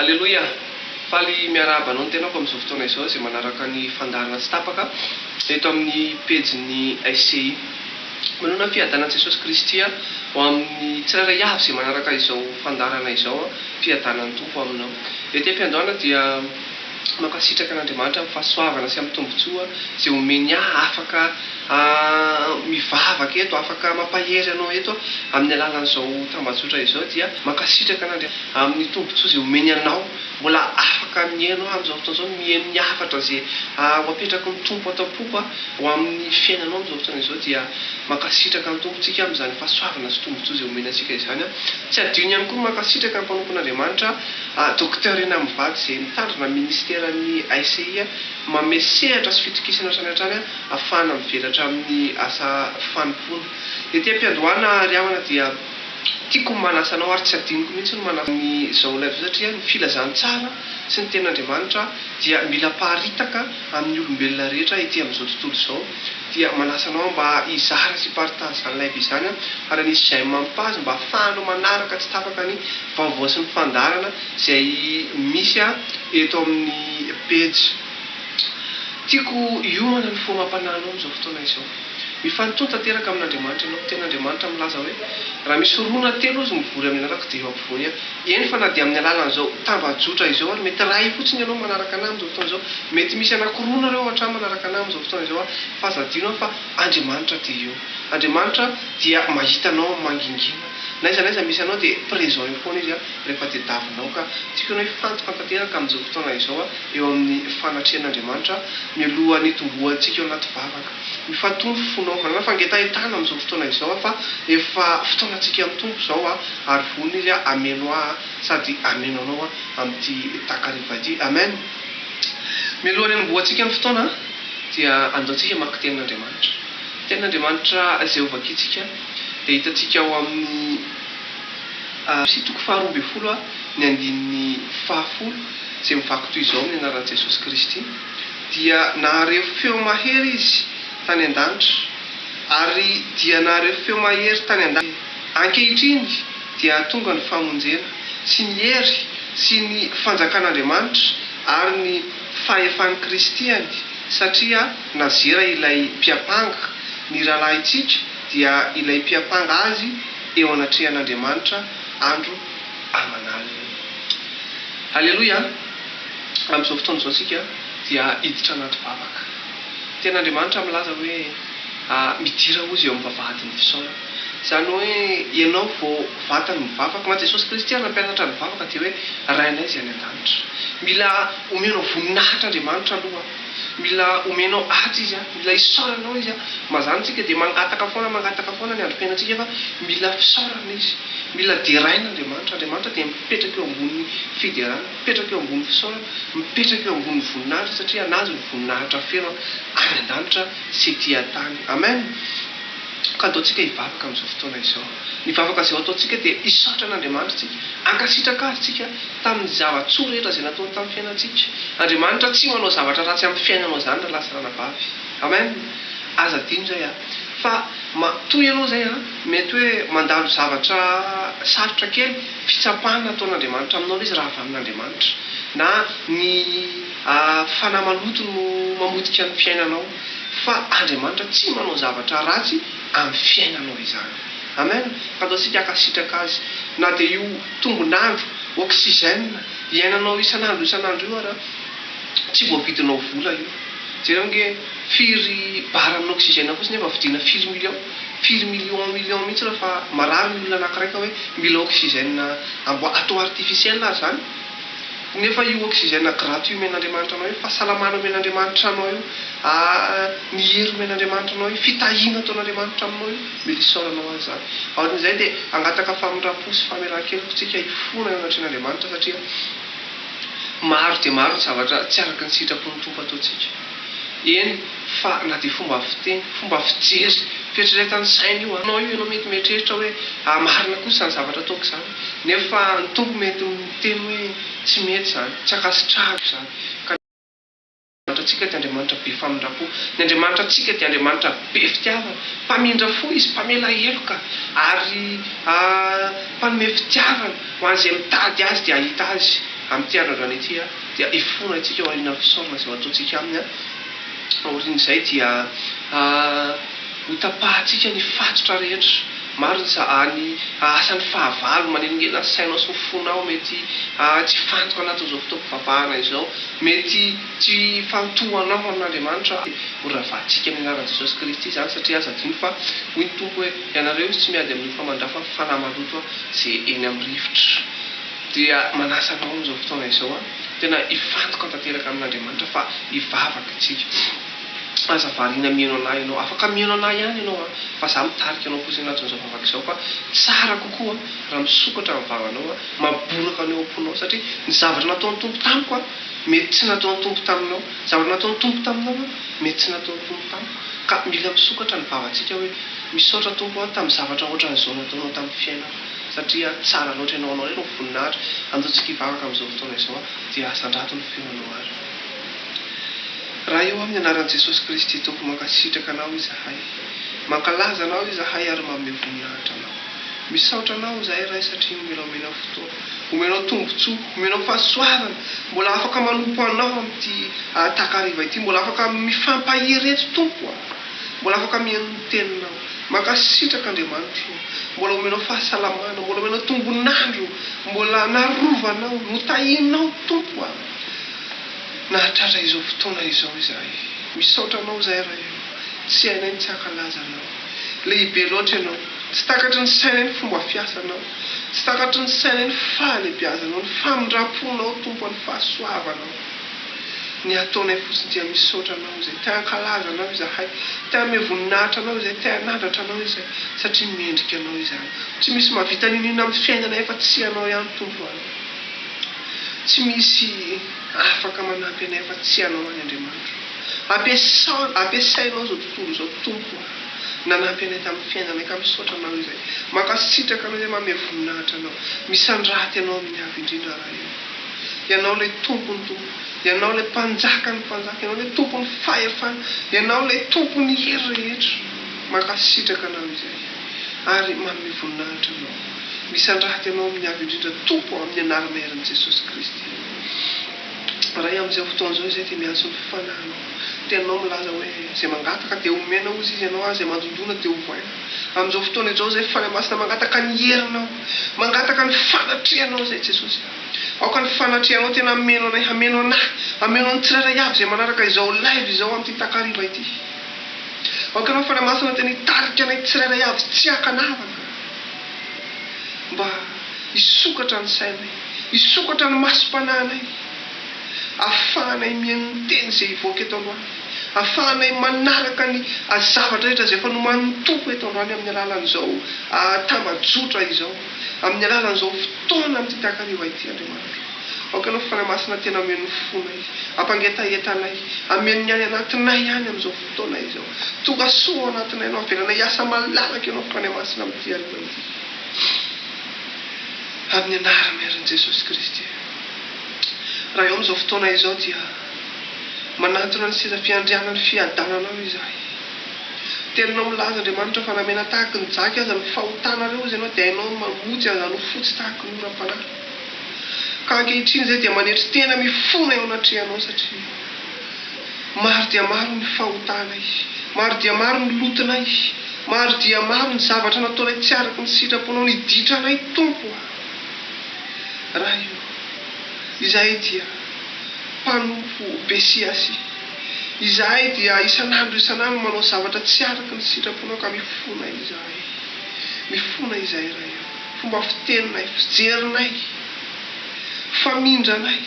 Aleloia! Faly miarahaba anao ny tenako amin'izao fotoana izao izay manaraka ny fandaharana tsy tapaka eto amin'ny pejin'ny SCI. Manoana ny fiadanan'i Jesosy Kristy ho amin'ny tsirairay avy izay manaraka izao fandaharana izao aho, mpiadana ny Tompo aminao. Ety am-piandohana dia. Mankasitraka an'Andriamanitra amin'ny fahasoavana sy amin'ny tombontsoa izay omeny ahy afaka mivavaka eto, afaka mampahery anao eto amin'ny alalan'izao tambajotra izao dia mankasitraka an'Andriamanitra amin'ny tombontsoa izay omeny anao mbola afaka mihaino ahy amin'izao fotoana izao, mihaino ny hafatra izay ho apetraky ny Tompo ato am-poko ho amin'ny fiainanao amin'izao fotoana izao dia mankasitraka ny Tompo tsika amin'izany fahasoavana sy tombontsoa izay omeny antsika izany. Tsy adino ihany koa ny mankasitraka ny mpanompon'Andriamanitra A Docteur Ina Mivady izay mitandrina ny Ministeran'ny ICI manome sehatra sy fitokisana hatrany hatrany ahafahana mivelatra amin'ny asa fanompoana. Ety am-piandohana ry havana dia tiako ny manasa anao ary tsy adinoko mihitsy ny manasa an'izao live izao satria ny filazantsara sy ny tenin'Andriamanitra dia mila aparitaka amin'ny olombelona rehetra ety amin'izao tontolo izao. dia manasa anao mba hizara sy hi-partage izany live izany aho ary hanisy j'aime amiko azy mba hahafahanao manaraka tsy tapaka ny vaovao sy ny fandaharana izay misy aho eto amin'ny pejy Tiako hiomana ny fo amam-panahinao amin'izao fotoana izao. Mifanintony tanteraka amin'Andriamanitra ianao. Ny tenin'Andriamanitra milaza hoe, Raha misy roa na telo izy mivory amin'ny anarako dia eo ampovoany aho. Eny fa na dia amin'ny alalan'izao tambajotra izao ary mety iray fotsiny ianao manaraka anah amin'izao fotoana izao, mety misy anankiroa nareo hoatrany manaraka anah amin'izao fotoana izao ary f'aza adino aho fa Andriamanitra dia eo. Andriamanitra dia mahita anao amin'ny mangingina. N'aiza n'aiza misy anao dia présent eo foana Izy rehefa tediavinao ka tiako ianao hifantoka tanteraka amin'izao fotoana izao eo amin'ny fanatrehan'Andriamanitra mialohan'ny hitomboantsika ao anaty vavaka. Mifantombo ny fonao, manana fangetahentana amin'izao fotoana izao aho fa efa fotoanantsika amin'ny Tompo izao aho ary vonona Izy hameno ahy sady hameno anao amin'ity takariva ity. Amen! Mialohan'ny hanombohantsika ny fotoana dia andeontsika hamaky Tenin'Andriamanitra. Ny Tenin'Andriamanitra izay hovakiantsika dia hitantsika ao amin'ny Eph. Toko faharoa ambin'ny folo, ny andininy fahafolo izay mivaky toy izao amin'ny anaran'i Jesosy Kristy. dia nahareho feo mahery izy tany an-danitra, ary dia nahareho feo mahery tany an-danitra. Ankehitriny dia tonga ny famonjena, sy ny hery, sy ny fanjakan'Andriamanitra, ary ny fahefan'i Kristy any, satria nazera ilay mpiampanga ny rahalahintsika, dia ilay mpiampanga azy eo anatrehan'Andriamanitra andro aman'aliny. Haleloia! Amin'izao fotoana izao isika dia hiditra anaty vavaka. Tena Andriamanitra milaza hoe, Midira hozy eo amin'ny vavahadin'ny fisaorana. Izany hoe ianao vao vatany mivavaka ho an'i Jesosy Kristy ary nampianatra ny vavaka dia hoe, Rainay izay any an-danitra. Mila omenao voninahitra Andriamanitra aloha. Mila omenao ady izy an! Mila isaoranao izy an! Mazàna tsika dia mangataka foana mangataka foana ny androm-piainantsika fa mila fisaorana izy. Mila deraina Andriamanitra. Andriamanitra dia mipetraka eo ambonin'ny fiderana, mipetraka eo ambonin'ny fisaorana, mipetraka eo ambonin'ny voninahitra satria anazy ny voninahitra feno an! any an-danitra sy ety an-tany. Amen! Ka ataontsika hivavaka amin'izao fotoana izao. Ny vavaka izay ho ataontsika dia hisaotra an'Andriamanitra isika, hankasitraka Azy isika tamin'ny zava-tsoa rehetra izay nataony tamin'ny fiainantsika. Andriamanitra tsy manao zavatra ratsy amin'ny fiainanao izany ralahy sy ranabavy. Amen. Aza adino izay a. Fa matoa ianao izay a, mety hoe mandalo zavatra sarotra kely, fitsapana ataon'Andriamanitra aminao ilay izy raha avy amin'Andriamanitra. Na ny fanahy maloto no mamotika ny fiainanao. Fa Andriamanitra tsy manao zavatra ratsy. amin'ny fiainanao izany. Amen! Fantatr tsika hankasitraka Azy. Na dia io tombon'andro, oxygène, iainanao isan'andro isan'andro io ara, tsy voavidinao vola io. Jereo ange, firy bar amin'ny oxygène fotsiny efa vidiana firy millions? Firy millions millions mihitsy raha fa marary ny olona anankiray ka hoe mila oxygène amboa, atao artificiel aza izany. Nefa io oxygène gratuit omen'Andriamanitra anao io, fahasalamana omen'Andriamanitra anao io, ah ny hery omen'Andriamanitra anao io, fitahiana ataon'Andriamanitra aminao io, mila isaoranao Azy izany. Aorian'izay dia hangataka famindram-po sy famelan-keloka isika hifona eo anatrehan'Andriamanitra satria maro dia maro ny zavatra tsy araka ny sitrapon'ny Tompo ataontsika. Eny fa na dia fomba fiteny, fomba fijery, fieritreretan'ny saina io an. Anao io ianao mety mieritreritra hoe, ah marina kosa izany zavatra ataoko izany. Nefa ny Tompo mety ho niteny hoe, Tsy mety izany. Tsy ankasitrahako izany. Ka ny Andriamanitratsika dia Andriamanitra be famindram-po. Ny Andriamanitratsika dia Andriamanitra be fitiavana. Mpamindra fo Izy, mpamela heloka, ary Mpanome fitiavana ho an'izay mitady Azy dia hahita Azy. Amin'ity andro androany ity, dia hifona isika ao aorianan'ny fisaorana izay ho ataontsika Aminy. Aorian'izay dia. Hotapahantsika ny fatotra rehetra. Marina sa any ahasan'ny fahavalo manelingela ny sainao sy ny fonao mety tsy hifantoka anatin'izao fotoam-pivavahana izao. Mety tsy hifantohanao amin'Andriamanitra ary ho ravahantsika amin'ny anaran'i Jesosy Kristy izany satria aza adino fa hoy ny Tompo hoe ianareo izy tsy miady amin'ny hofa mandrafa fa fanahy maloto ze eny amin'ny rivotra dia manasa anao amin'izao fotoana izao tena hifantoka tanteraka amin'Andriamanitra fa hivavaka isika Aza variana mihaino anah ianao. Afaka mihaino anah ihany ianao an! Fa za mitarika anao fotsiny anatin'izao vavaka izao fa tsara kokoa raha misokatra ny vavanao an! Maboraka ny ao am-ponao satria ny zavatra nataon'ny Tompo tamiko an! Mety tsy nataon'ny Tompo taminao. Zavatra nataon'ny Tompo taminao an! Mety tsy nataon'ny Tompo tamiko. Ka mila misokatra ny vavantsika hoe, Misaotra Tompo an! Tamin'ny zavatra ohatran'izao nataonao tamin'ny fiainako. Satria tsara loatra ianao. Anao indray no voninahitra. Andeho tsika hivavaka amin'izao fotoana izao an! Dia asandrato ny feonao ary. Raha eo amin'ny anaran'i Jesosy Kristy Tompo mankasitraka anao izahay. Mankalaza anao izahay ary manome voninahitra anao. Misaotra anao izahay Ray satria omena omena fotoana, omenao tombontsoa, omenao fahasoavana, mbola afaka manompo anao amin'ity takariva ity, mbola afaka mifampahery eto Tompo a! Mbola afaka mihaino ny teninao. Mankasitraka Andriamanitro ô! Mbola omenao fahasalamana, mbola omenao tombon'andro, mbola narovanao, notahianao Tompo a! nahatratra izao fotoana izao izahay. Misaotra anao izahay rahefa tsy hainay ny tsy hankalaza anao. Lehibe loatra ianao. Tsy takatry ny sainay ny fomba fiasanao. Tsy takatry ny sainay ny fahalebiazanao, ny famindramponao Tompo any fahasoavanao. Ny ataonay fotsiny dia misaotra anao izay. Te hankalaza anao izahay. Te hanome voninahitra anao izay. Te hanandratra anao izay. Satria mendrika anao izany. Tsy misy mahavita n'inon'inona amin'ny fiainanay afa tsy ianao ihany Tompo an. Tsy misy afaka manampy anay afa tsy Ianao ary Andriamanitro. Ampiasao, ampiasainao izao tontolo izao Tompo o. Nanampy anay tamin'ny fiainanay ka misaotra Anao izay. Mankasitraka Anao izay manome voninahitra Anao. Misandraty Anao amin'ny avo indrindra Ray o. Ianao ilay Tompon'ny Tompo. Ianao ilay Mpanjakan'ny Mpanjaka. Ianao ilay Tompon'ny fahefana. Ianao ilay Tompon'ny hery rehetra. Mankasitraka Anao izay. Ary manome voninahitra Anao. Misandrahaka ianao amin'ny Avo Indrindra Tompo amin'ny anarana herin'i Jesosy Kristy. Ray amin'izao fotoana izao izay dia miantso ny fanahinao. Ny teninao milaza hoe, izay mangataka dia homena hozy izy ianao ary izay mandondona dia hovaina. Amin'izao fotoana izao izay Fanahy Masina mangataka ny herinao, mangataka ny fanatrehanao izay Jesosy. Aoka ny fanatrehanao tena hameno anay, hameno anah, hameno ny tsirairay avy izay manaraka izao live izao amin'ity takariva ity. Aoka ianao Fanahy Masina tena hitarika anay tsirairay avy tsy ankanavaka. mba hisokatra ny sainay, hisokatra ny masom-panahinay, ahafahanay mihaino ny teny izay hivoaka eto androany, ahafahanay manaraka ny zavatra rehetra izay efa nomanin'ny Tompo eto androany amin'ny alalan'izao tambajotra izao, amin'ny alalan'izao fotoana amin'ity takariva ity, Andriamanitra. Aoka Ianao, Fanahy Masina, tena hameno ny fonay, hampangetaheta anay, hameno ny any anatinay any amin'izao fotoana. Taona izao. Tonga soa ao anatinay ianao. Avelana hiasa malalaka ianao Fanahy Masina amin'ity alina ity. Amin'ny Anaran'ny Herin' Jesosy Kristy. Raha eo amin'izao fotoana izao dia manatona ny seza fiandrianan'ny fiadananao izahay. Teninao milaza Andriamanitra fa na mena tahaky ny jaky aza ny fahotanareo hozy ianao dia hainao ny mamotsy aza an'ho fotsy tahaky ny oram-panahy. Ka ankehitriny izay dia manetry tena mifona eo anatrehanao satria. Maro dia maro ny fahotanay. Maro dia maro ny lotonay. Maro dia maro ny zavatra nataonay tsy araka ny sitraponao. Niditra anay, Tompo o. Ray o. Izahay dia mpanompo besiasy. Izahay dia isan'andro isan'andro manao zavatra tsy araka ny sitraponao ka mifona izahay. Mifona izahay, Ray o. Fomba fiteninay, fijerinay, famindranay,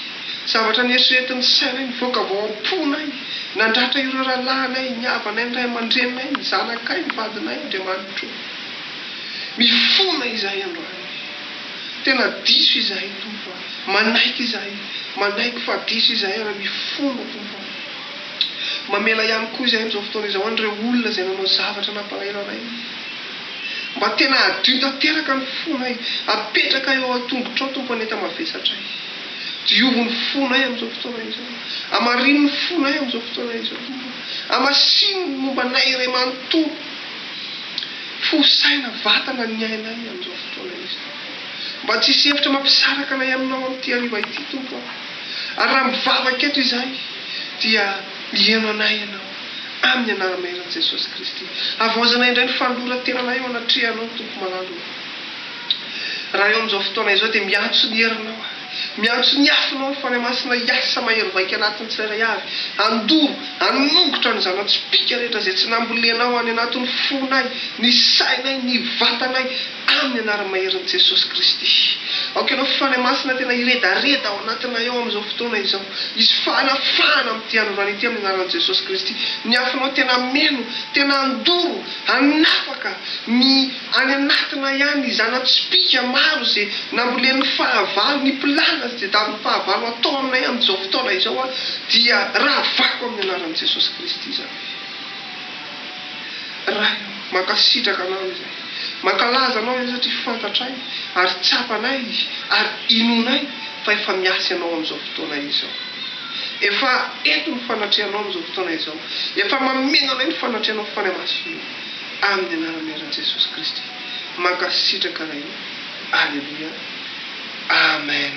zavatra neritreretin'ny sainay, nivoaka avy ao am-ponay, nandratra ireo rahalahinay, ny havanay, ny ray aman-dreninay, ny zanakay, ny vadinay, Andriamanitro ô. Mifona izahay androany. Tena diso izahay, Tompo a. Manaiky izahay. Manaiky fa diso izahay ary mifona, Tompo a. Mamela ihany koa izahay amin'izao fotoana izao an'ireo olona izay nanao zavatra nampalahelo anay. Mba tena hadio tanteraka ny fonay. Apetraka eo an-tongotrao, Tompo, ny enta-mavesatray. Diovy ny fonay amin'izao fotoana izao. Amarino ny fonay amin'izao fotoana izao, Tompo. Amasino ny momba anay iray manontolo. Fo, saina, vatana ny ainay amin'izao fotoana izao. Mba tsy hisy hevitra mampisaraka anay Aminao amin'ity hariva ity, Tompo aho. Ary raha mivavaka eto izahay, dia miheno anay Ianao. Amin'ny Anaran'i Maheran'i Jesosy Kristy. Havaozana indray ny fanoloran-tenanay eo anatrehanao, Tompo malala ô. Raha eo amin'izao fotoana izao dia miantso ny herinao aho. Miantso ny afonao ny Fanahy Masina hiasa mahery vaika anatin'ny tsirairay avy, handoro, hanongotra ny zana-tsipìka rehetra izay tsy nambolenao any anatin'ny fonay, ny sainay, ny vatanay, Amin'ny anarany maherin'i Jesosy Kristy. Aoka ianao fifanahy masina tena hiredareda ao anatinay ao amin'izao fotoana izao. Hisy fanafahana amin'ity androany ity amin'ny anaran'i Jesosy Kristy. Ny afonao tena hameno, tena handoro, hanafaka ny any anatinay any, ny zana-tsipìka maro izay nambolen'ny fahavalo, ny mpilala izay davin'ny fahavalo atao aminay amin'izao fotoana izao aho dia ravako amin'ny anaran'i Jesosy Kristy izany. Ray ô, mankasitraka Anao izahay. Mankalaza Anao izahay satria fantatray ary tsapanay ary inoanay fa efa miasa Ianao amin'izao fotoana izao. Efa eto ny fanatrehanao amin'izao fotoana izao. Efa mameno anay ny fanatrehanao fany amasonao. Amin'ny anarana iran'i Jesosy Kristy. Mankasitraka Ray ô. Aleloia. Amen.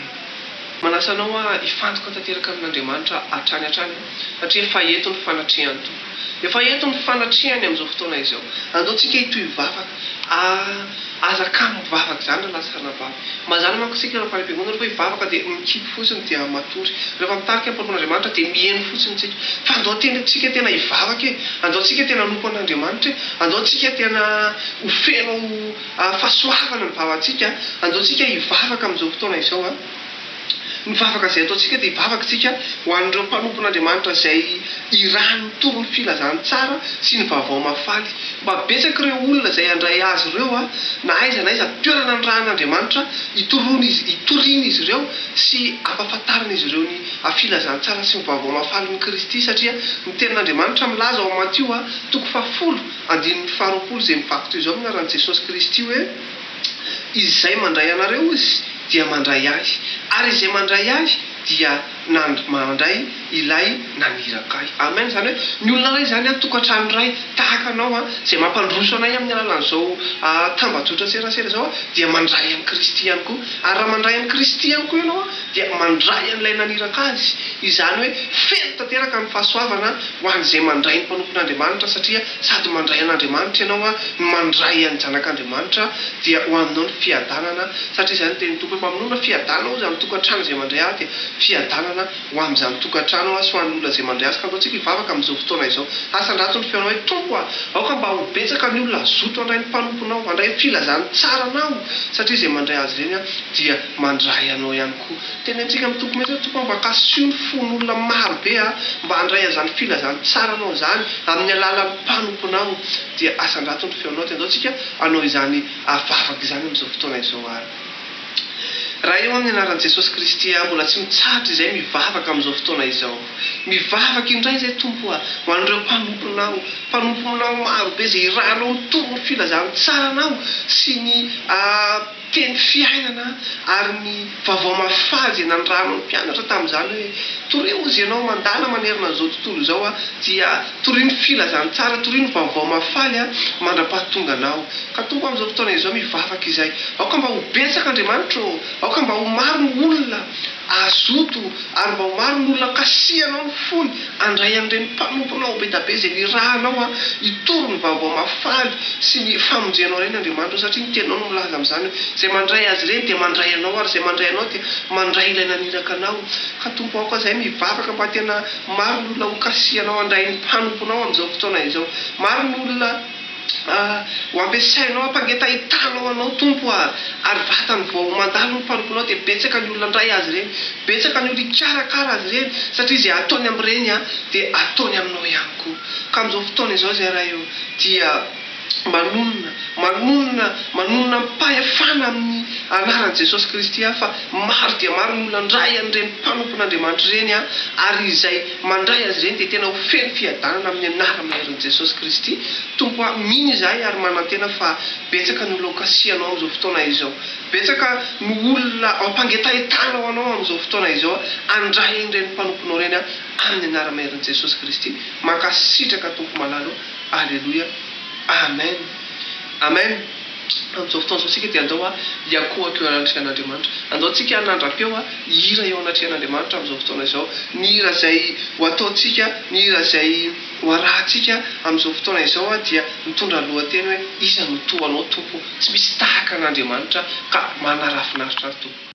Manasa anao hifantoka tanteraka amin'Andriamanitra hatrany hatrany aho satria efa eto ny fanatrehany Tompo. Efa eto ny fanatrehany amin'izao fotoana izao. Andeontsika hitohy vavaka. Ah, aza kamo mivavaka izany raha lasa hanambavy. Mazàna manko isika ireo mpanabe-monina rehefa hivavaka dia mikipy fotsiny dia matory. Rehefa mitarika am-porofon'Andriamanitra dia miheno fotsiny isika. Fa andao antsika tena hivavaka e! Andao antsika tena hanompo an'Andriamanitra e! Andao antsika tena ho feno fahasoavana ny vavantsika. Andao antsika hivavaka amin'izao fotoana izao a! Ny vavaka izay ataontsika dia vavaktsika ho an'ireo mpanompon'Andriamanitra izay irahan'ny torin'ny filazantsara sy ny vaovao mahafaly. Mba betsaka ireo olona izay handray azy ireo na aiza na aiza toerana nirahan'Andriamanitra hitorian'izy ireo sy hampafantarin'izy ireo ny filazantsara sy ny vaovao mahafalin'i Kristy satria ny tenin'Andriamanitra milaza ao Matio toko fahafolo andininy faharoapolo izay mivaky toy izao ny anaran'i Jesosy Kristy hoe Izay mandray anareo Izy dia mandray Ahy, ary izay mandray Ahy dia nand mandray Ilay naniraka Ahy. Amen. Izany hoe, ny olona iray izany an, tokantrano iray, tahaka anao an, izay mampandroso anay amin'ny alalan'izao ah tambajotran-tserasera izao an, dia mandray an'i Kristy ihany koa. Ary raha mandray an'i Kristy ihany koa ianao an, dia mandray an'Ilay naniraka Azy. Izany hoe, feno tanteraka ny fahasoavana ho an'izay mandray ny mpanompon'Andriamanitra, satria Sady mandray an'Andriamanitra ianao no mandray an'ny Zanak'Andriamanitra, dia ho aminao ny fiadanana, satria izay no tenin'ny Tompo hoe, Mamonona fiadanana aho izany tokantrano izay mandray ahy, dia fiadanana ho amin'izany tokantrano aho sy ho an'ny olona izay mandray azy. Ka andao tsika hivavaka amin'izao fotoana izao, asandrato ny feonao hoe, Tompo a, aoka mba ho betsaka ny olona hazoto handray ny mpanomponao, handray ny filazan'ny tsara Anao, satria izay mandray azy ireny dia mandray Anao ihany koa. Teny antsika mitoky mihitsy aho tompoko a, mba kasio ny fon'olona marobe a, mba handray an'izany filazantsaranao izany amin'ny alalan'ny mpanomponao, dia asandrato ny feonao, dia andao tsika hanao izany vavaka izany amin'izao fotoana izao ary. Raha eo amin'ny anaran'i Jesosy Kristy aho mbola tsy mitsahatra izay mivavaka amin'izao fotoana izao. Mivavaka indray izay Tompo a, ho an'ireo mpanomponao, mpanomponao marobe izay hiranao mitory ny filazantsaranao sy ny. Teny fiainana ary ny vavao mafà izay nandrariny ny mpianatra tamin'izany hoe, Torio hozy ianao mandala manerana an'izao tontolo izao aho, dia torio ny filazantsara, torio ny vavao mahafaly aho mandra-pahatonganao. Ka Tompo amin'izao fotoana izao mivavaka izay, aoka mba ho betsaka Andriamanitra ô, aoka mba ho maro ny olona, Azoto ary mba ho maro ny olona kasihanao ny fony handray an'ireny mpanomponao be da be izay nirahanao hitory ny vaovao mahafaly sy ny famonjenao ireny Andriamanitra ao satria ny teninao no milaza amin'izany hoe izay mandray azy ireny dia mandray anao ary izay mandray anao dia mandray ilay naniraka anao ka Tompo aoka izahay mivavaka mba tena maro ny olona ho kasihanao handray ny mpanomponao amin'izao fotoana izao maro ny olona Ho ampiasainao hampangetahetanao Anao, Tompo a! Ary vatany vao mandalo ny mpanomponao, dia betsaka ny olona ndray azy ireny, betsaka ny olona hikarakara azy ireny, satria izay ataony amin'ireny a, dia ataony aminao ihany koa. Ka amin'izao fotoana izao izay Ray o, dia manonona, manonona, manonona amim-pahefana amin'ny Anaran'i Jesosy Kristy aho, fa maro dia maro ny olona ndray an'ireny mpanompon'Andriamanitra ireny a, ary izay. Mandray azy ireny dia tena ho feno fiadanana amin'ny anarana maherin'i Jesosy Kristy. Tompo a, mino izahay ary manantena fa betsaka no loka asianao amin'izao fotoana izao. Betsaka no olona ampangetahetana ho anao amin'izao fotoana izao. Andray ireny mpanomponao ireny aho amin'ny anarana maherin'i Jesosy Kristy. Mankasitraka Tompo malalo. Aleloia. Amen. Amen. Amin'izao fotoana izao isika dia andao hiankohoka eo anatrehan'Andriamanitra. Andao tsika hanandra-peo hihira eo anatrehan'Andriamanitra amin'izao fotoana izao. Ny hira izay ho ataontsika, ny hira izay ho arahantsika amin'izao fotoana izao dia mitondra ny lohateny hoe, Iza no toa Anao Tompo? Tsy misy tahaka an'Andriamanitra ka manarafinaritra ny Tompo.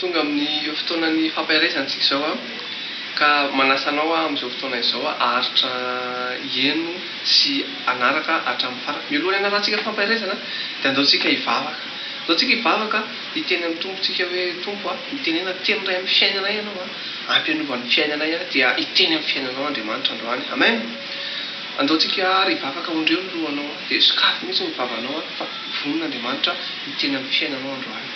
Tonga amin'io fotoanan'ny fampaherezana isika izao aho, ka manasa anao aho amin'izao fotoana izao haharitra hihaino sy hanaraka hatramin'ny farany. Mialohan'ny hanarantsika fampaherezana dia andeontsika hivavaka. Andeontsika hivavaka hiteny amin'ny Tompontsika hoe, Tompo a, mitenena teny iray amin'ny fiainanay Ianao a, ampy hanova ny fiainanay aho dia hiteny amin'ny fiainanao Andriamanitra androany. Amen! Andeontsika ary hivavaka ondreo ny lohanao dia sokafy mihitsy ny vavanao fa vonona Andriamanitra hiteny amin'ny fiainanao androany.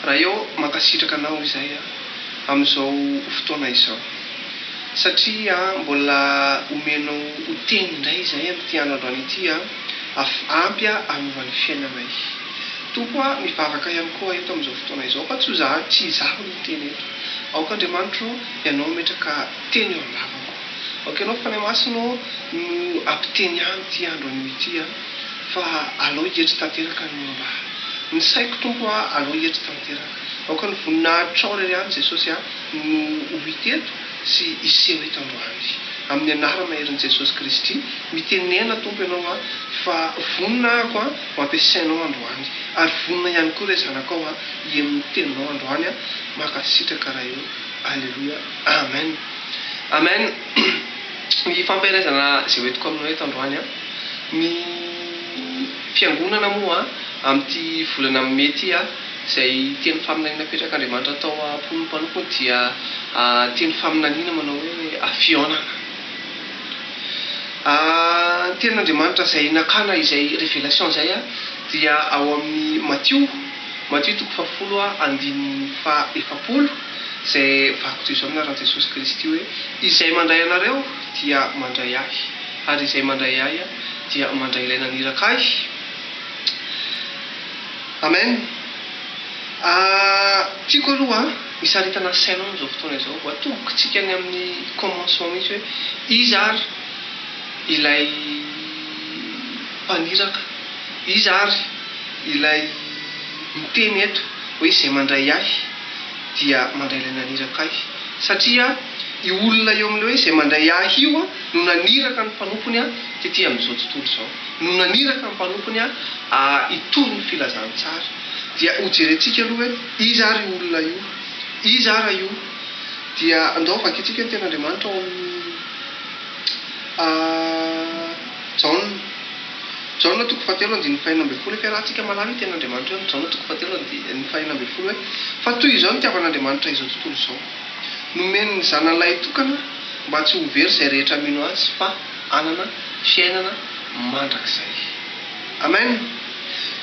Raeo mankasitraka anao izay a amin'izao fotoana izao satria a mbola omenao ho teny indray izay amin'ity andro androany ity a af ampy a hanova ny fiainanay Tompo a mivavaka ihany koa eto amin'izao fotoana izao fa tsy ho za tsy izaho no miteny eto aoka Andriamanitro ianao ametraka teny eo am-bavako aoka ianao Fanahy Masina ô no ampiteny ahy amin'ity andro anio ity a. Fa alao hietry tanteraka ny mba. Ny saiko Tompo a, alao hietry tanteraka. Aoka ny voninahitrao irery ihany Jesosy a, no ho hita eto sy hiseho eto androany. Amin'ny anara maherin'i Jesosy Kristy, mitenena Tompo Ianao a, fa vonona ahako a, ho ampiasainao androany. Ary vonona ihany koa re zanakao a, hihaino ny teninao androany a. Mankasitraka Ray o. Aleloia. Amen. Amen. Ny hifampaherezana izay hoentiko aminao eto androany a. Ny Fiangonana moa amin'ity volana Mai ity, izay teny faminaniana apetrak'Andriamanitra tao am-pon'ny mpanompony dia teny faminaniana manao hoe fihaonana. Ny tenin'Andriamanitra izay nakana izay révélation izay dia ao amin'ny Matio, Matio toko fahafolo andininy faha-efapolo, izay vakiko toy izao ny anaran'i Jesosy Kristy hoe, Izay mandray anareo dia mandray ahy. Ary izay mandray ahy dia mandray ilay naniraka ahy. Amen. Ah, tiako aloha hisaritana asaina amin'izao fotoana izao, ho atombokitsika any amin'ny commencement mihitsy hoe iza ary ilay mpaniraka, iza ary ilay miteny eto hoe izay mandray ahy dia mandray ilay naniraka ahy. Satria io olona eo amin'ilay hoe izay mandray ahy io an. No naniraka ny mpanompony tetỳ amin'izao tontolo izao. No naniraka ny mpanompony hitory ny filazantsara. Dia hojerentsika aloha hoe iza àry io olona io? Iza àry io? Dia andao vakintsika ny Tenin'Andriamanitra ao amin'ny Jaona. Jaona toko fahatelo andininy fahenina ambin'ny folo. Efa iarahantsika mahalala io Tenin'Andriamanitra io amin'ny Jaona toko fahatelo andininy fahenina ambin'ny folo hoe, Fa toy izao nitiavan'Andriamanitra izao tontolo izao. Nomeny ny Zanany lahitokana mba tsy ho very izay rehetra mino Azy fa hanana fiainana mandrakizay. Amen!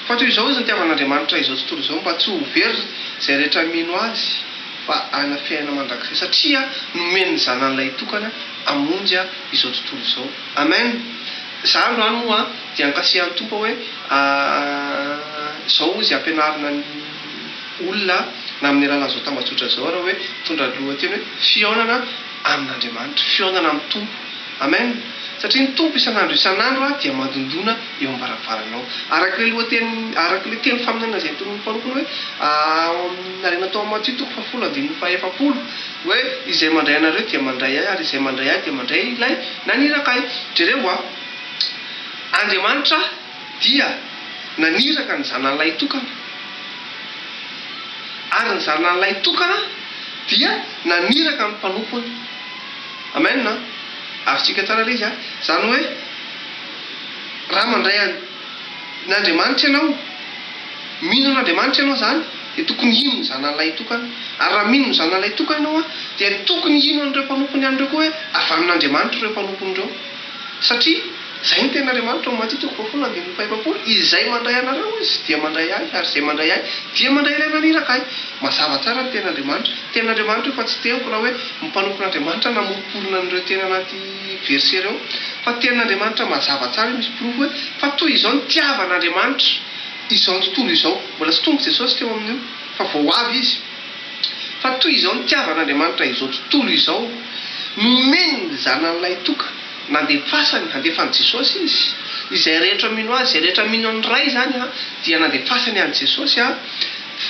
Fa toy izao izy nitiavan'Andriamanitra izao tontolo izao mba tsy ho very izay rehetra mino Azy fa hanana fiainana mandrakizay satria nomeny ny Zanany lahitokana hamonjy izao tontolo izao. Amen! Za androany moa dia ankasihan'ny Tompo aho hoe izao Izy ampianarina ny. olona na amin'ny alalan'izao tambajotra izao ary hoe mitondra lohateny hoe fihaonana amin'Andriamanitra, fihaonana amin'ny Tompo. Amen! Satria ny Tompo isan'andro isan'andro dia mandondona eo am-baravaranao. Araka ilay lohateny, araka ilay teny faminaniana izay notolorin'ny mpanompo ny hoe ao amin'ny harena tao amin'ny Matio toko fahafolo andininy fahaefapolo hoe izay mandray anareo dia mandray ahy ary izay mandray ahy dia mandray ilay naniraka ahy. Jereo a! Andriamanitra. dia naniraka ny zanany lahitokana, ary ny zanany lahitokana dia naniraka ny mpanompony. Amen an! Azontsika tsara ilay izy an! Izany hoe, raha mandray an, ny Andriamanitra ianao, mino an'Andriamanitra ianao izany, dia tokony hino ny zanany lahitokana. Ary raha mino ny zanany lahitokana ianao an, dia tokony hino an'ireo mpanompony ihany ireo koa hoe avy amin'Andriamanitra ireo mpanompony ireo. Satria. Izay no tenin'Andriamanitra momba antsika, Kofoafolo andininy fahaefapolo, Izay mandray anareo Izy, dia mandray Ahy, ary izay mandray Ahy, dia mandray Ilay naniraka Ahy. Mazava tsara ny tenin'Andriamanitra. Tenin'Andriamanitra io fa tsy teniko na hoe ny mpanompon'Andriamanitra namoriporina an'ireo teny anaty verset ireo. Fa tenin'Andriamanitra mazava tsara io, misy porofo hoe fa toy izao nitiavan'Andriamanitra izao tontolo izao. Mbola tsy tonga Jesosy teo amin'io, fa vao avy Izy. Fa toy izao nitiavan'Andriamanitra izao tontolo izao, nomeny ny Zanany lahitokana. Nandefasany, handefan'i Jesosy izy. Izay rehetra mino Azy, izay rehetra mino ny Ray izany dia nandefasany an'i Jesosy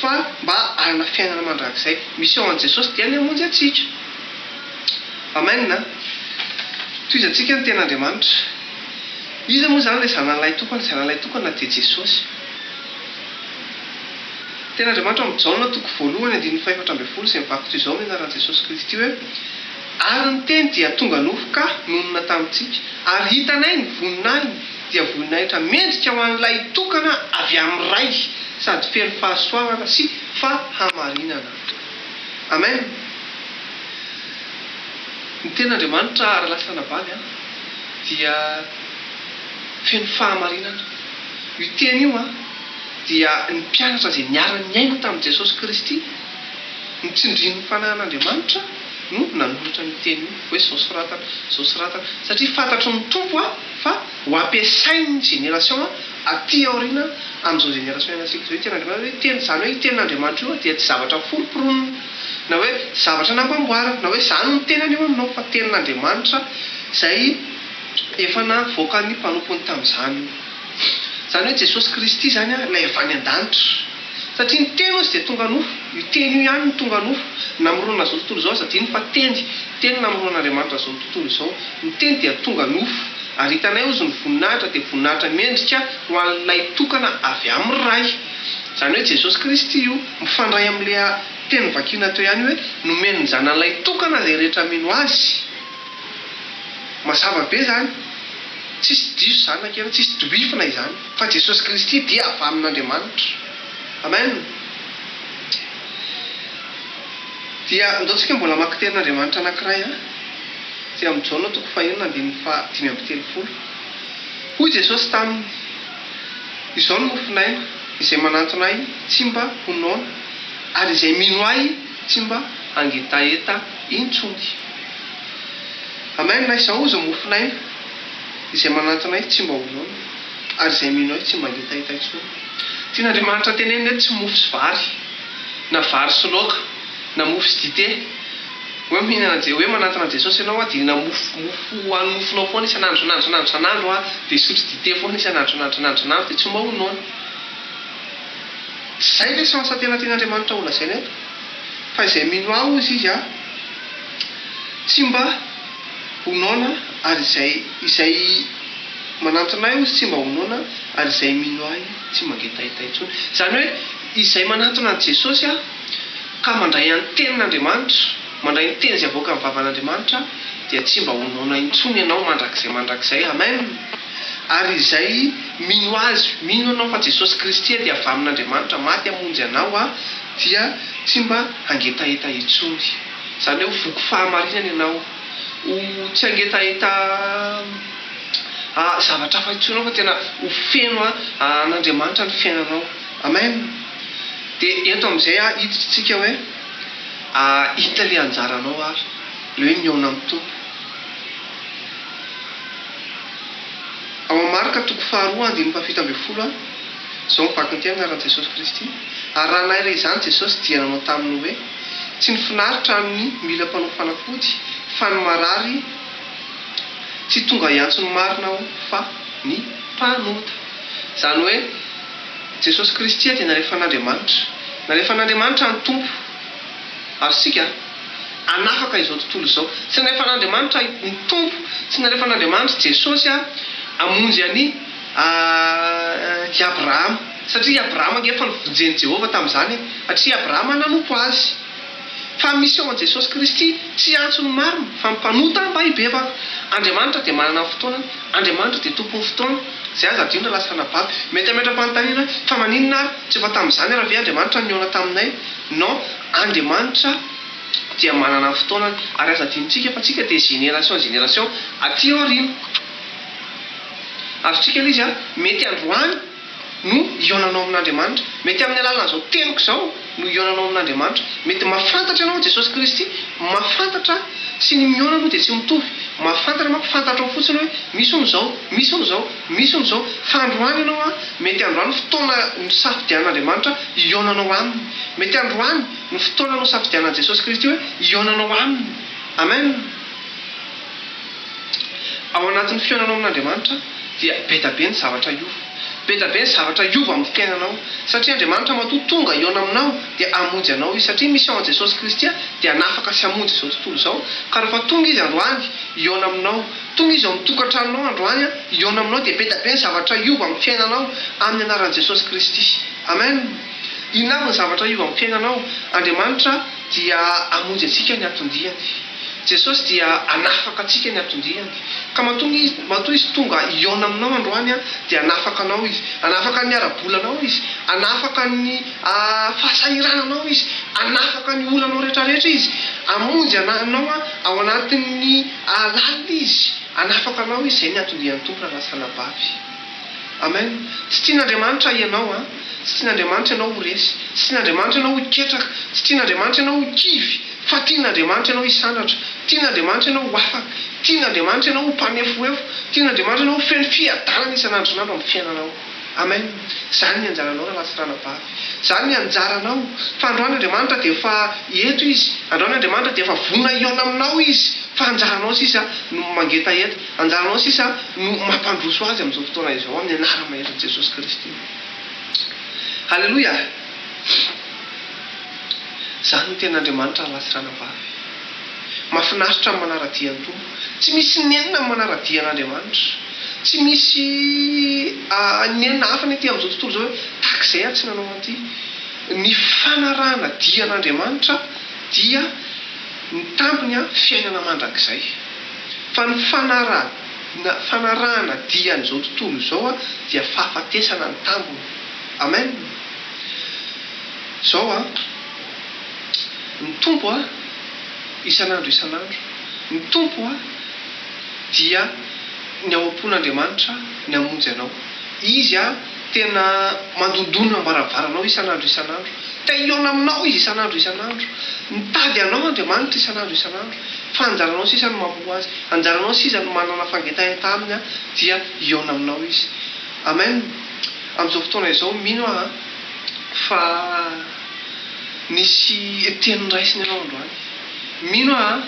fa mba hanana fiainana mandrakizay. Mission an'i Jesosy dia ny hamonjy antsika. Amen a! Tohizantsika ny Tenin'Andriamanitra. Iza moa izany ilay Zanany lahy tokana? Zanany lahy tokana dia Jesosy. Ny Tenin'Andriamanitra amin'ny Jaona toko voalohany andininy fahefatra ambin'ny folo izay mivaky toy izao ny anaran'i Jesosy Kristy hoe. Ary ny teny dia tonga nofo ka nonina tamintsika, ary hitanay ny voninahiny, dia voninahitra mendrika ho an'ilay tokana avy amin'ny Ray, sady feno fahasoavana sy fahamarinana. Amen! Ny Tenin'Andriamanitra, ary lasa anabavy, an, dia feno fahamarinana. Io Teny io, an, dia ny mpianatra izay niara-niaina tamin'i Jesosy Kristy, notsindrin'ny Fanahin'Andriamanitra, no nanoratra an'io teny io hoe izao soratana izao soratana satria fantatry ny Tompo a fa ho ampiasain'ny génération aty aoriana amin'izao génération ianantsika izao io tenin'Andriamanitra hoe teny izany hoe io tenin'Andriamanitra io dia tsy zavatra foropronona na hoe zavatra nampamboarina na hoe izany no tenany eo aminao fa tenin'Andriamanitra izay efa navoakan'ny mpanompony tamin'izany Izany hoe Jesosy Kristy izany ilay avy any an-danitra. Satria ny Teny hozy dia tonga nofo. Io Teny io ihany no tonga nofo, namoronana izao tontolo izao. Aza adino fa Teny. Teny namoronan'Andriamanitra izao tontolo izao. Ny Teny dia tonga nofo. Ary hitanay hozy ny voninahitra dia voninahitra mendrika ho an'ilay tokana avy amin'ny Ray. Izany hoe Jesosy Kristy io. Mifandray amin'ilay teny vakina teo ihany hoe, Nomeny ny Zanany ilay tokana izay rehetra mino Azy. Mazava be izany. Tsisy diso izany na kely, tsisy doifina izany. Fa Jesosy Kristy dia avy amin'Andriamanitra. Amen. Dia ndao tsika mbola hamaky tenin'Andriamanitra anankiray an. Aty amin'ny Jaona toko fahenina andininy faha dimy amby telopolo. Hoy Jesosy taminy, Izao no mofon'aina, izay manantona Ahy tsy mba ho noana, ary izay mino Ahy, Tsy mba hangetaheta intsony. Amen na izaho oza mofon'aina izay manantona ahy tsy mba ho noana ary izay mino ahy tsy mba hangetaheta intsony. Tian'Andriamanitra tenenina eto tsy mofo sy vary na vary sy laoka na mofo sy dite hoe mihinana je hoe manantona Jesosy ianao a dia na mofo mofo hohano mofonao foana isan'andro isan'andro isan'andro isan'andro a dia hisotro dite foana isan'andro isan'andro isan'andro isan'andro dia tsy mba ho noana. Izay ilay sens tena tian'Andriamanitra ho lazaina eto. Fa izay mino Ahy hozy Izy a, tsy mba ho noana ary izay izay manantona Ahy hozy tsy mba ho noana ary izay mino Ahy tsy mangetaita intsony. Izany hoe izay manantona an'i Jesosy a, ka mandray an'ny tenin'Andriamanitra, mandray ny teny izay avoakan'ny vavan'Andriamanitra dia tsy mba ho noana intsony ianao mandrakizay mandrakizay. Amen! Ary izay mino Azy, mino anao fa Jesosy Kristy dia avy amin'Andriamanitra, maty hamonjy anao Aho, dia tsy mba hangetaheta intsony. Izany hoe ho voky fahamarinana ianao, ho tsy hangetaheta zavatra hafa intsony ianao fa tena ho feno an'Andriamanitra ny fiainanao. Amen! Dia eto amin'izay ary hiditra isika hoe, inona ilay anjaranao ary? Ilay hoe mihaona amin'ny Tompo. Ao amin'ny Marka toko faharoa andininy fahafito ambin'ny folo ary izao ny vaky ny teny anaran'i Jesosy Kristy ary raha naira izany Jesosy dia nanao taminy hoe, tsy ny finaritra ny mila mpanao fanafody fa ny marary, tsy tonga hiantso ny marina aho fa ny mpanota. Izany hoe Jesosy Kristy dia nalefan'Andriamanitra, nalefan'Andriamanitra ny Tompo. Ary isika? Hanafaka izao tontolo izao. Tsy nalefan'Andriamanitra ahy ny Tompo, tsy nalefan'Andriamanitry Jesosy aho hamonjy an' i Abrahama, satria i Abrahama ange efa nofonjen'i Jehovah tamin'izany e! satria i Abrahama nanompo Azy. Fa misy ao amin'i Jesosy Kristy, tsy antso ny marina, fa ny mpanota mba hibebaka. Andriamanitra dia manana ny fotoanany, Andriamanitra dia Tompon'ny fotoana, izay aza adino raha lasa anababy. Mety hametra-panontaniana hoe, Fa maninona ary tsy efa tamin'izany ary ve Andriamanitra nihaona taminay? Non, Andriamanitra dia manana ny fotoanany, ary aza adinontsika fa tsika dia génération génération aty aoriana. Azontsika ilay izy, mety androany no hihaonanao amin'Andriamanitra, mety amin'ny alalan'izao teniko izao no hihaonanao amin'Andriamanitra, mety mahafantatra anao Jesosy Kristy, mahafantatra sy ny mihaona aloha dia tsy mitovy, mahafantatra manko fantatrao fotsiny hoe misy hono izao, misy hono izao. Misy hono izao, fa androany ianao an, mety androany fotoana nosafidian'Andriamanitra hihaonanao Aminy. Mety androany no fotoana nosafidianan'i Jesosy Kristy hoe hihaonanao Aminy. Amen! Ao anatin'ny fihaonanao amin'Andriamanitra dia be da be ny zavatra hiova. Be da be ny zavatra hiova amin'ny fiainanao. Satria Andriamanitra matoa tonga hihaona aminao dia hamonjy anao Izy. Satria misy ao amin'i Jesosy Kristy dia hanafaka sy hamonjy izao tontolo izao. Ka rehefa tonga Izy androany hihaona aminao, Tohizo amin'ny tokantranonao androany an, hihaona aminao dia be da be ny zavatra hiova amin'ny fiainanao amin'ny anaran'i Jesosy Kristy. Amen. Inona avy ny zavatra hiova amin'ny fiainanao? Andriamanitra dia hamonjy antsika ny hatondiany. Jesosy dia hanafaka antsika ny hatondiany. Ka matoa ny, matoa Izy tonga hihaona aminao androany an, dia hanafaka anao Izy. Hanafaka ny ara-bolanao Izy. Hanafaka ny fahasahirananao Izy. Hanafaka ny olanao rehetra rehetra Izy. Hamonjy anao ao anatin'ny. Hahalala Izy, hanafaka anao Izy, izay ny anton-dian'ny Tompo raha lasa anabavy. Amen. Tsy tian'Andriamanitra hianao an. Tsy tian'Andriamanitra ianao ho resy. Tsy tian'Andriamanitra ianao ho ketraka. Tsy tian'Andriamanitra ianao ho kivy. Fa tian'Andriamanitra ianao hisandratra. Tian'Andriamanitra ianao ho afaka. Tian'Andriamanitra ianao ho mpanefohefo. Tian'Andriamanitra ianao ho feno fiadanana isan'andro isan'andro amin'ny fiainanao. Amen zany ny anjaranao Ralatsy Ranabavy zany ny anjaranao fa androany Andriamanitra dia efa eto izy androany Andriamanitra dia efa vonona hihaona aminao izy fa anjaranao sisa no mangetaheta anjaranao sisa no mampandroso azy amin'izao fotoana izao amin'ny anarany mahery ny Jesosy Kristy Aleloia zany no tenin'Andriamanitra Ralatsy Ranabavy. Mafinaritra ny manara-dia ny Tompo. Tsy misy nenina ny manara-dia an'Andriamanitra. Tsy misy nenina hafa ny aty amin'izao tontolo izao hoe tahaka izay aho tsy nanao an'ity. Ny fanarahana dia an'Andriamanitra dia ny tambiny fiainana mandrakizay. Fa ny fanarahana fanarahana dia an'izao tontolo izao dia fahafatesana ny tambiny. Amen! Izao an! Ny Tompo a! isan'andro isan'andro, ny Tompo a! dia ny ao am-pon'Andriamanitra ny hamonjy anao. Izy a! tena mandondona am-baravaranao isan'andro isan'andro. Te hihaona aminao Izy isan'andro isan'andro. Mitady anao Andriamanitra isan'andro isan'andro. Fa anjaranao sisa ny mamoa Azy. Anjaranao sisa ny manana fangentahenta Aminy a! dia hihaona aminao Izy. Amen! Amin'izao fotoana izao, mino aho fa. Nisy teny noraisiny ianao androany. Mino aho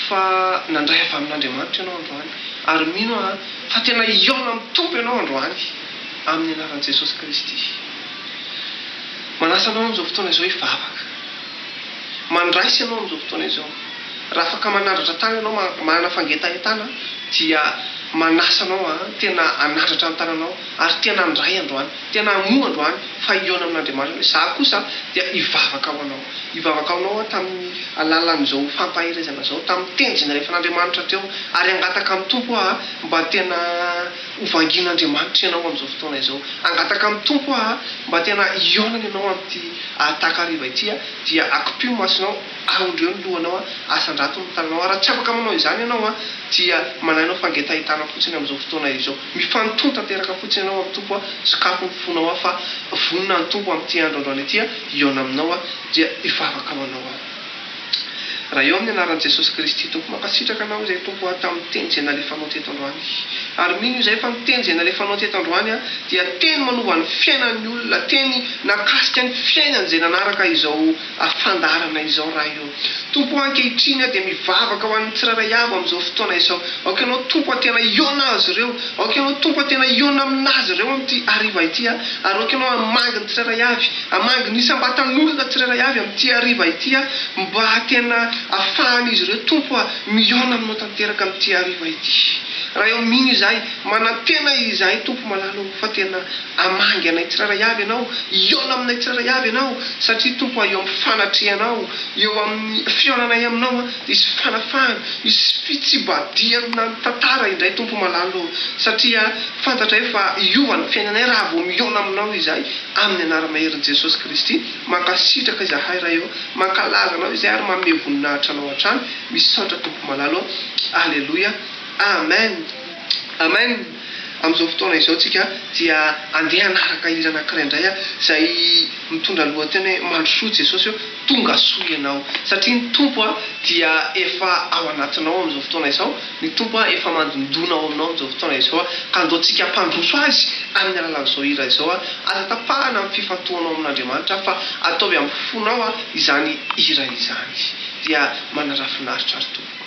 fa nandray avy amin'Andriamanitra ianao androany, ary mino aho fa tena hihaona amin'ny Tompo ianao androany, amin'ny anaran'i Jesosy Kristy. Manasa anao amin'izao fotoana izao hivavaka. Mandraisa ianao amin'izao fotoana izao. Raha afaka manandratra tàna ianao, manana fangetahentana, dia manasa anao tena hanandratra ny tànanao, ary tena handray androany. Tena hamoa androany fa hihaona amin'Andriamanitra hoe, Izaho kosa dia hivavaka ho anao. Hivavaka ho anao aho tamin'ny alalan'izao fampaherezana izao, tamin'ny teny izay nalefan'Andriamanitra teo. Ary hangataka amin'ny Tompo aho mba tena ho vangian'Andriamanitra ianao amin'izao fotoana izao. Hangataka amin'ny Tompo aho mba tena hihaonana ianao amin'ity takariva ity, dia akopio ny masonao, aondreo ny lohanao, asandrato ny tananao. Ary raha tsy afaka manao izany ianao, dia manainao fangetahetana fotsiny amin'izao fotoana izao. Mifanton tanteraka fotsiny ianao amin'ny Tompo a, sokafy ny fonao ao fa vonona ny Tompo amin'ity andro androany ity a, hihaona aminao a, dia hivavaka ho anao aho. Raha eo amin'ny anaran'i Jesosy Kristy Tompo, mankasitraka anao izay Tompo a, tamin'ny teny izay nalefanao teto androany. Ary mino izay fa ny teny izay nalefanao teto androany a, dia teny manova ny fiainan'ny olona, teny nakasika ny fiainany izay nanaraka izao, ary fandaharana izao raha eo. Tompo o ankehitriny aho dia mivavaka ho an'ny tsirairay avy amin'izao fotoana izao. Aoka Ianao Tompo aho tena hihaona azy ireo. Aoka Ianao Tompo aho tena hihaona amin'azy ireo amin'ity hariva ity aho. Ary aoka Ianao hamangy ny tsirairay avy, hamangy ny isam-batan'olona tsirairay avy amin'ity hariva ity aho, mba tena hafahan'izy ireo Tompo a, mihaona Aminao tanteraka amin'ity hariva ity. Raha eo mino izahay, manantena izahay Tompo malala o, fa tena. Hamangy anay tsirairay avy Ianao, hihaona aminay tsirairay avy Ianao, satria, Tompo aho, eo amin'ny fanatrehanao, eo amin'ny fihaonanay Aminao, hisy fanafahana, hisy fitsibadihana ny tantara indray, Tompo malalo ô, satria fantatray fa hiova ny fiainanay raha vao mihaona Aminao izahay, amin'ny anara-maherin'i Jesosy Kristy. Mankasitraka izahay Ray ô, mankalaza Anao izahay ary manome voninahitra Anao hatrany. Misaotra Tompo malalo ô. Aleloia. Amen. Amen. Amin'izao fotoana izao tsika dia andeha hanaraka hira anankiray indray izay mitondra lohateny hoe Mandrosoa Jesosy ô, tonga soa ianao. Satria ny Tompo dia efa ao anatinao amin'izao fotoana izao, ny Tompo efa mandondona ao aminao amin'izao fotoana izao ka andao tsika hampandroso Azy amin'ny alalan'izao hira izao. Aza tapahana ny fifantohanao amin'Andriamanitra fa ataovy amin'ny fonao izany hira izany dia manarafinaritra ry tompoko.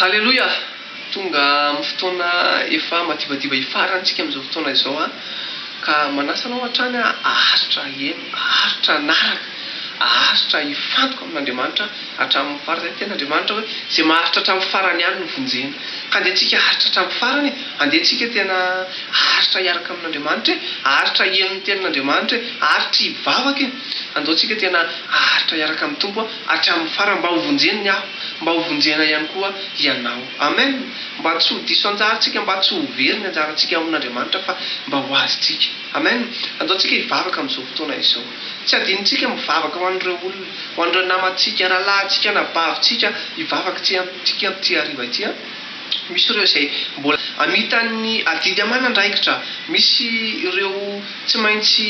Haleloia! Tonga amin'ny fotoana efa madivadiva hifarantsika amin'izao fotoana izao aho, ka manasa anao hatrany aho haharitra haheno, haharitra hanaraka, haharitra hifantoka amin'Andriamanitra hatramin'ny farany. Ny tenin'Andriamanitra hoe, izay maharitra hatramin'ny farany ihany no vonjena. Ka andeha antsika haharitra hatramin'ny farany e! Andeha antsika tena haharitra hiaraka amin'Andriamanitra e! Haharitra hihaino ny tenin'Andriamanitra e! Haharitra hivavaka e! Andao antsika tena haharitra hiaraka amin'ny Tompo a! Hatramin'ny farany mba ho vonjeniny aho, mba ho vonjena ihany koa ianao. Amen! Mba tsy ho diso anjarantsika, mba tsy ho very ny anjarantsika amin'Andriamanitra fa mba ho azontsika. Amen! Anjaontsika hivavaka amin'izao fotoana izao. Tsy adinontsika mivavaka ho an'ireo olona, ho an'ireo namantsika, rahalahintsika, anabavintsika, hivavaka itsika amin'ity hariva ity an! Misy ireo izay mbola amitan'ny adidy aman'andraikitra, misy ireo tsy maintsy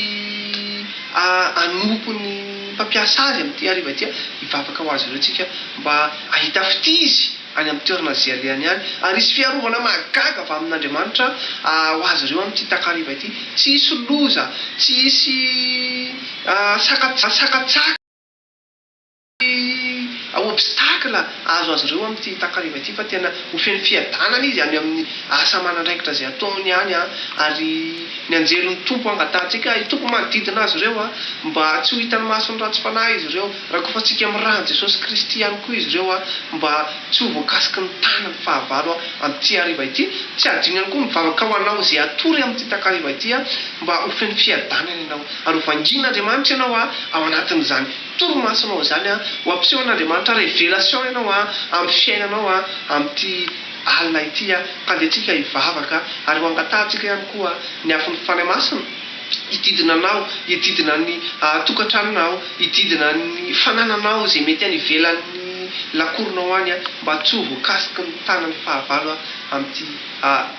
anompo ny mpampiasa azy amin'ity hariva ity. Hivavaka ho azy ireo tsika mba hahita fitizy any amin'ny toerana izay alehany any, ary hisy fiarovana mahagaga avy amin'Andriamanitra ho azy ireo amin'ity takariva ity. Tsy hisy loza, tsy hisy sakatsaka. Ny obstacle azo azy ireo amin'ity takariva ity fa tena ho feno fiadanana izy any amin'ny asa aman'andraikitra izay ataony any an! ary ny anjelin'ny Tompo hangatahantsika ahy Tompo manodidina azy ireo an! mba tsy ho hitan'ny mason'ny ratsy fanahy izy ireo, rakofantsika amin'ny ran'i Jesosy Kristy ihany koa izy ireo an! mba tsy ho voakasiky ny tanany fahavalo an! amin'ity hariva ity, tsy hadino ihany koa ny vavaka ho anao izay hatory amin'ity takariva ity an! mba ho feno fiadanana ianao ary ho vangian'Andriamanitra ianao an! ao anatin'izany Torimasonao izany an! Ho ampiseho an'Andriamanitra révélation ianao an! Amin'ny fiainanao an! Amin'ity alina ity an! Mpandeha antsika hivavaka ary ho angatahantsika ihany koa ny afon'ny Fanahy Masina hididina anao, hididina ny tokantranonao, hididina ny fanananao izay mety any ivelan'ny lakoronao any an! Mba tsy ho voakasiky ny tanan'ny fahavalo an! Amin'ity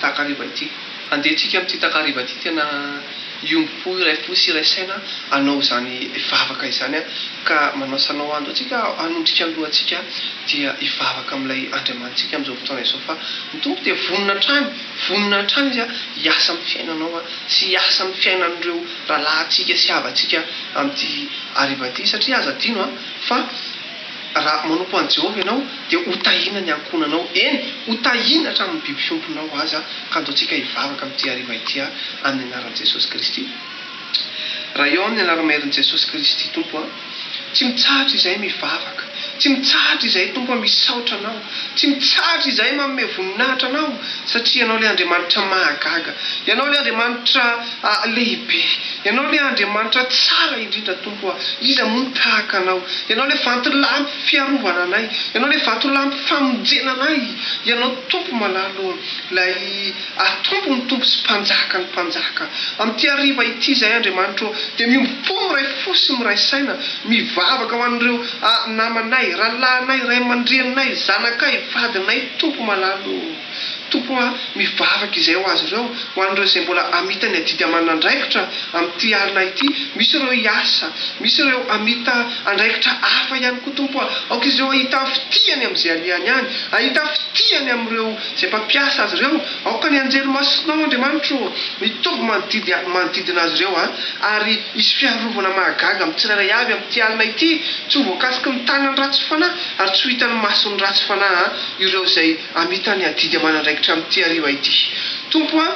takariva ity. Handeha tsika amin'ity takariva ity tena hiombom-po iray fo sy iray saina hanao izany vavaka izany ka manao sanao ando tsika hanondrika ny lohantsika dia hivavaka amin'ilay Andriamanitsika amin'izao fotoana izao fa ny Tompo dia vonona hatrany vonona hatrany izy hiasa amin'ny fiainanao sy hiasa amin'ny fiainan'ireo rahalahintsika sy havantsika amin'ity hariva ity satria aza adino fa Raha manompo an'i Jehovah ianao, dia hotahiana ny ankohonanao, eny, hotahiana hatramin'ny biby fiompinao aza. Kanto antsika hivavaka amin'ity hariva ity aho, amin'ny anaran'i Jesosy Kristy. Raha eo amin'ny anaramaherin'i Jesosy Kristy, Tompo a. Tsy mitsahatra izahay mivavaka. Tsy mitsahatra izahay, Tompo a, misaotra Anao. Tsy mitsahatra izahay manome voninahitra Anao, satria Ianao ilay Andriamanitra mahagaga. Ianao ilay Andriamanitra lehibe. Ianao ilay Andriamanitra tsara indrindra, Tompo ô! Iza moa no tahaka Anao? Ianao ilay vatolampy fiarovana anay. Ianao ilay vatolampy famonjena anay. Ianao, Tompo malalo ô! Ilay. Ary Tompo ny Tompo sy Mpanjaka ny Mpanjaka. Amin'ity hariva ity izahay, Andriamanitra ô, dia miombo-po, miray fo sy miray saina, mivavaka ho an'ireo a, namanay, rahalahinay, ray aman-dreninay, zanakay, vadinay, Tompo malala ô. Tompo a, mivavaka izahay ho azy ireo, ho an'ireo izay mbola hamita ny adidy amanana andraikitra amin'ity alina ity, misy ireo hiasa, misy ireo hamita andraikitra hafa ihany koa, Tompo a, aoka izy ireo hahita fitia any amin'izay alehany any, hahita fitia any amin'ireo Izay mpampiasa azy ireo, aoka ny anjely masinao, Andriamanitra ô, mitovy manodidy manodidina azy ireo, ary hisy fiarovana mahagaga amin'ny tsirairay avy amin'ity alina ity, tsy ho voakasiky ny tanan'ny ratsy fanahy, ary tsy ho hitan'ny mason'ny ratsy fanahy ireo izay hamita ny adidy aman'andraikitra amin'ity hariva ity, Tompo a.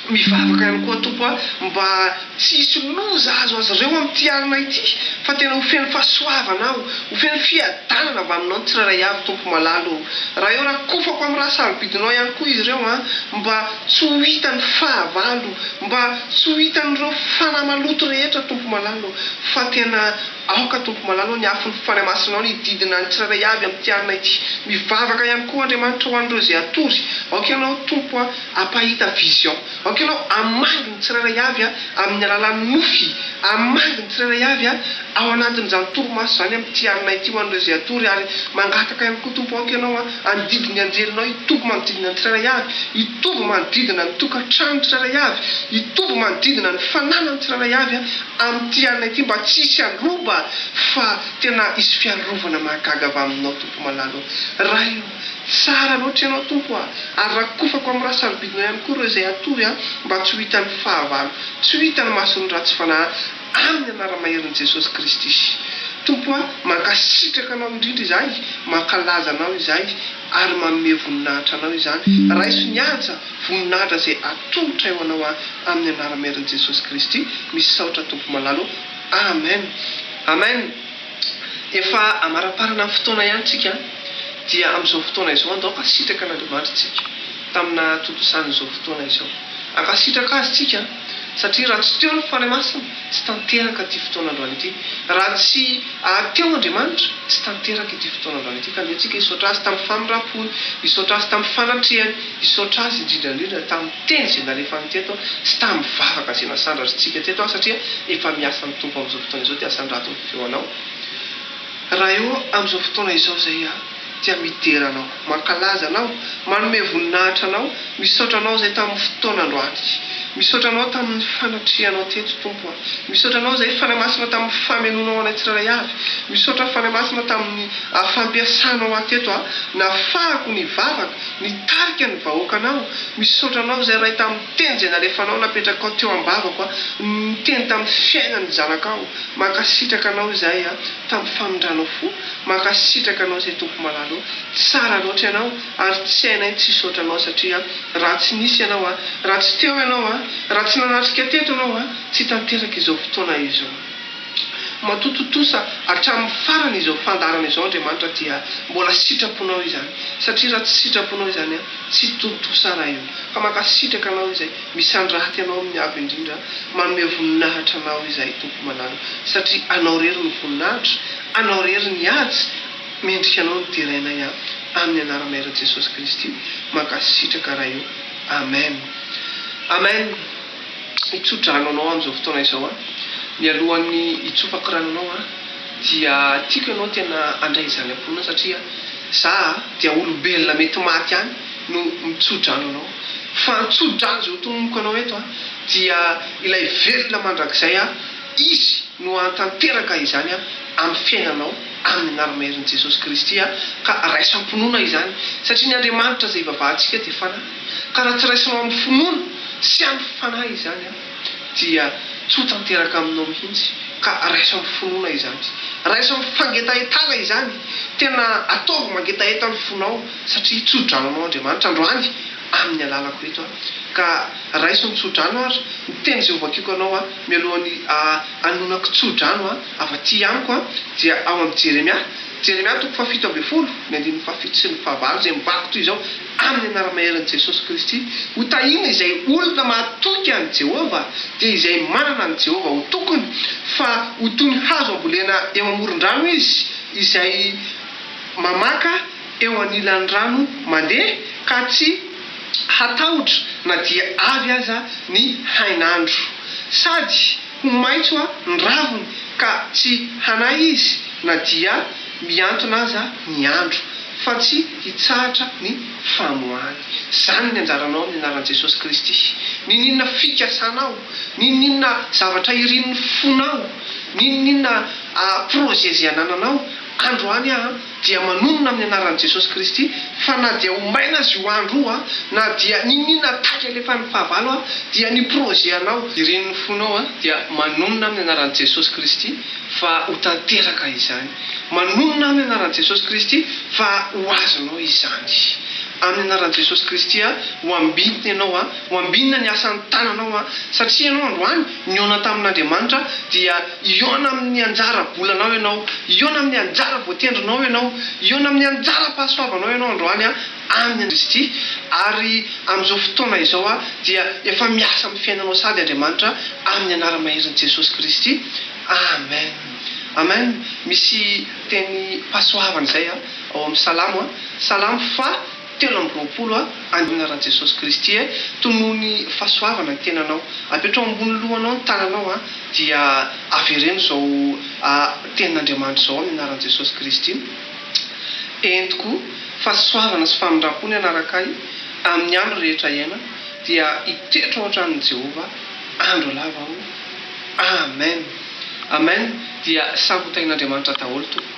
Mivavaka ihany koa Tompo a, mba tsy hisy loza ahazo azy ireo amin'ity alina ity, fa tena ho feno fahasoavana aho, ho feno fiadanana avy Aminao ny tsirairay avy Tompo malala o. Raha eo rakofako amin'ny ra sarobidinao ihany koa izy ireo an, mba tsy ho hitan'ny fahavalo, mba tsy ho hitan'ireo fanahy maloto rehetra Tompo malala o, fa tena. Aoka, Tompo malala ô, ny afon'ny fanahy masinao ny hididina ny tsirairay avy amin'ity alina ity. Mivavaka ihany koa, Andriamanitra, ho an'ireo izay hatory. Aoka Ianao, Tompo a, hampahita vision. Aoka Ianao hamangy ny tsirairay avy a, amin'ny alalan'ny nofy. Hamangy ny tsirairay avy a, ao anatin'izany torimaso izany amin'ity alina ity, ho an'ireo izay hatory. Ary mangataka ihany koa, Tompo, aoka Ianao a, handidy ny anjelinao hitoby manodidina ny tsirairay avy, hitoby manodidina ny tokantrano tsirairay avy, hitoby manodidina ny fananan'ny tsirairay avy a, Amin'ity alina ity mba tsy hisy handroba fa tena hisy fiarovana mahagaga avy aminao Tompo malala ô! Ray ô! Tsara loatra Ianao Tompo a! Ary rakofako amin'ny rahasarobidinao ihany koa ireo izay hatory ahy mba tsy ho hitan'ny fahavalo, tsy ho hitan'ny mason'ny ratsy fanahy amin'ny anara-maherin'i Jesosy Kristy. Tompo a! Mankasitraka Anao indrindra izahay, mankalaza Anao izahay. ary manome voninahitra Anao izany. Raiso ny haja, voninahitra izay atolotray ho Anao aho amin'ny anaram-herin'i Jesosy Kristy. Misaotra Tompo malala ô. Amen. Amen. Efa amaraparana ny fotoana ihany tsika dia amin'izao fotoana izao andao hankasitraka an'Andriamanitra tsika tamina tontosan'izao fotoana izao. Hankasitraka Azy tsika. Satria raha tsy teo ny Fanahy Masina, tsy tanteraka ity fotoana androany ity. Raha tsy ary teo Andriamanitra, tsy tanteraka ity fotoana androany ity. Ka dia antsika hisaotra Azy tamin'ny famindram-pony, hisaotra Azy tamin'ny fanatrehany, hisaotra Azy indrindra indrindra tamin'ny teny izay nalefany teto sy tamin'ny vavaka izay nasandratrintsika teto satria efa miasa ny Tompo amin'izao fotoana izao dia asandrato ny feonao raha eo amin'izao fotoana izao izay Tia midera anao. Mankalaza anao. Manome voninahitra anao. Misaotra anao izay tamin'ny fotoana androany. Misaotra anao tamin'ny fanatrihanao teto, Tompo a. Misaotra anao izay, Fanahy Masina, tamin'ny famenoanao anay tsirairay avy. Misaotra, Fanahy Masina, tamin'ny fampiasanao ahy teto ahnafahako ny vavaka, nitarika ny vahoakanao. Misaotra anao izay, Ray, tamin'ny teny izay nalefanao, napetrakao teo ambavako a, niteny tamin'ny fiainan'ny zanakao. Mankasitraka anao izahay a, tamin'ny famindranao fo. Mankasitraka anao zay tompoko malalo tsara loatra ianao ary tsy hainay ny tsy hisaotra anao satria raha tsy nisy ianao a raha tsy teo ianao a raha tsy nanatrika teto ianao a tsy hitanteraka izao fotoana izao matoa tontosa hatramin'ny farany izao fandaharana izao Andriamanitra dia mbola sitraponao izany satria raha tsy sitraponao izany a tsy tontosa raha io ka mankasitraka anao izay misandrahty anao amin'ny avo indrindra manome voninahitra anao izahay tompoko malalo satria anao rery no voninahitra Anao rery ny ady mendrika anao no derainay an aminy anara mairan jesosy kristy mankasitraka ray o amen amen itsodrano anao amizao fotoana izao an mialohan'ny hitsofako rano anao an dia tiako ianao tena andray izany amponina satria za dia olombelona mety maty ihany no mitsodrano anao fa antsodrano izao tonomiko anao eto an dia ilay velona mandrakizay an Izy no hahatanteraka izany amin'ny fiainanao amin'ny anaramaherin'i Jesosy Kristy ka raisam-pinoana izany satria ny Andriamanitra izay ivavahantsika dia Fanahy ka raha tsy raisinao amin'ny finoana sy amin'ny Fanahy izany dia tsy ho tanteraka aminao mihitsy ka raiso amin'ny finoana izany raiso amin'ny fangetahetana izany tena ataovy mangetaheta ny fonao satria tso-dranonao Andriamanitra androany amin'ny alalako eto ka raiso ny tso-drano ary ny teny izay hovakiko anao Mialohan'ny hanonako tso-drano avy aty amiko dia ao amin'i Jeremia, Jeremia toko fahafito ambin'ny folo, ny andininy fahafito sy ny fahavalo, izay mivaky toy izao, Amin'ny anara-maherin'i Jesosy Kristy, hotahina izay olona mahatoky an'i Jehovah, dia izay manana an'i Jehovah ho tokony, fa ho toy ny hazo ambolena eo amoron-drano izy, izay mamaka, eo anilan'ny rano mandeha ka tsy hatahotra na dia avy aza ny hainandro, sady ho maitso ny raviny ka tsy hanahy izy na dia mihantona aza ny andro, fa tsy hitsahatra ny famoahany. Izany ny anjaranao amin'ny anaran'i Jesosy Kristy. N'inon'inona fikasanao, n'inon'inona zavatra irin'ny fonao, n'inon'inona projet izay anananao, androany aho an, dia manonona amin'ny anaran'i Jesosy Kristy fa na dia ho maina aza io andro io an, na dia niniana taika alefan'ny fahavalo an, dia ny projet anao, irin'ny fonao an, dia manonona amin'ny anaran'i Jesosy Kristy fa ho tanteraka izany, manonona amin'ny anaran'i Jesosy Kristy fa ho azonao izany, amin'ny anaran'i Jesosy Kristy an, ho ambinina ianao an, ho ambinina ny asan'ny tananao an, satria ianao androany, Nihaona tamin'Andriamanitra dia hihaona amin'ny anjara bolanao ianao, hihaona amin'ny anjara voatendrinao ianao, hihaona amin'ny anjara-pahasoavanao ianao androany amin'i Kristy, ary amin'izao fotoana izao dia efa miasa amin'ny fiainanao sady Andriamanitra amin'ny anara-maherin' Jesosy Kristy. Amen. Amen. Misy teny pasoavana izay ao amin'ny Salamo, Salamo fa. Telo amby roapolo A, Andriana Ra Jesosy Kristy eh, tonoho ny fahasoavana ny tenanao, apetraho ambony lohanao ny tananao a, dia avereno izao tenin'Andriamanitra izao amin'ny anaran'i Jesosy Kristy, entiko fahasoavana sy famindram-po ny hanaraka ahy amin'ny andro rehetra iainako, dia hitoetra ao an-tranon'i Jehovah andro lava aho, Amen! Amen! Dia samy ho tahin'Andriamanitra daholo tompoko.